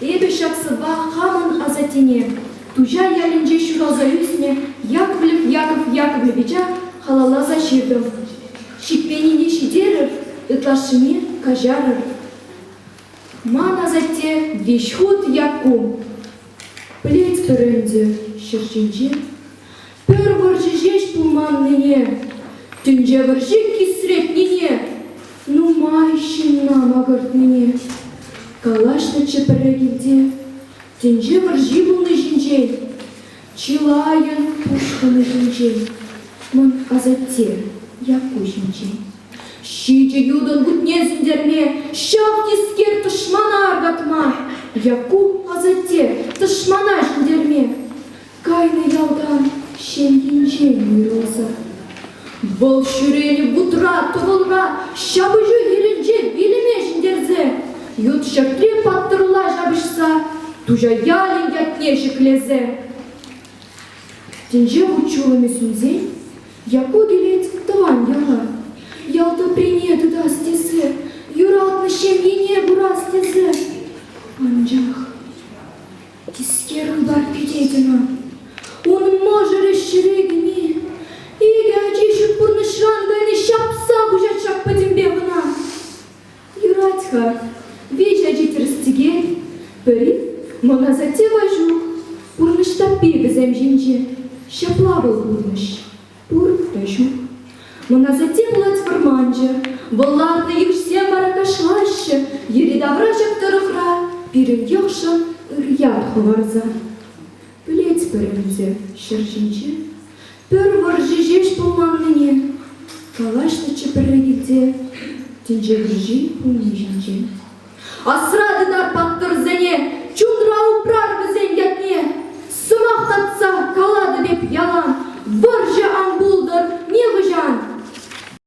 Эпӗ ҫак сӑвва хамӑн асаттене, Туҫа ялӗнче ҫуралса ӳснӗ Яковлев Яков Яковлевича халалласа ҫыртӑм. Ҫитменнине ҫитерӗр, ытлашшине каҫарӑр. Ман асатте веҫ хут Якку. Пӗлетпӗр ӗнтӗ ҫӗр ҫинче Пӗр вӑрҫӑ ҫеҫ пулманнине, тӗнче вӑрҫи кисретнине, нумай ҫынна макӑртнине калаҫнӑччӗ пӗрре килте тӗнче вӑрҫи пулни ҫинчен, чылайӑн пушхӑнӗ ҫинчен, мӑн асатте Якку ҫинчен. Ҫичӗ ютӑн кутне сӳнтерме, ҫав тискер тӑшмана аркатма, Якку асатте тӑшмана ҫӗнтерме. Кайнӑ ялтан ҫемйинчен уйрӑлсӑр. Вӑл ҫӳренӗ вутра, тӑвӑлра, ҫапӑҫу йӗрӗнче вилӗме ҫӗнтерсе, ют ҫӗртре паттӑрла ҫапӑҫса, Туҫа ялӗн ятне ҫӗклесе. Тӗнче вут-ҫулӑмӗ сӳнсен, Якку килет тӑван яла. Ял тӑприне тытас тесе, юратнӑ ҫемьене курас тесе. Анчах Тискер хыпар кӗтетӗн-и? Унӑн мӑшӑрӗ ҫӗре кӗни икӗ ачи ҫут пурнӑҫран кайни ҫапса куҫать ҫак пӗтӗмпе кӑна. Юрать-ха, виҫӗ ачи тӗрӗс-тӗкел, пӗри мӑн асатте Ваҫук, пурнӑҫ таппи вӗсем ҫинче. Ҫапла вӑл пурнӑҫ. Пур вӗҫӗм. Мӑнасатте пулать вӑрманчӑ. Вӑл ларнӑ йышсем аркашлаҫҫӗ, йӗри-тавра ҫак тӑрӑхра пирӗн йӑхшӑн ыр ят хӑварса. Пӗлетпӗр ӗнтӗ ҫӗр ҫинче пӗр вӑрҫӑ ҫеҫ пулманнине, калаҫнӑччӗ пӗрре килте тӗнче вӑрҫи пулни ҫинчен. Асра тытар паттӑрсене, чунра упрар вӗсен ятне. Сӑмах татса калатӑп эп ялан, вӑрҫӑ ан пултӑр нихӑҫан.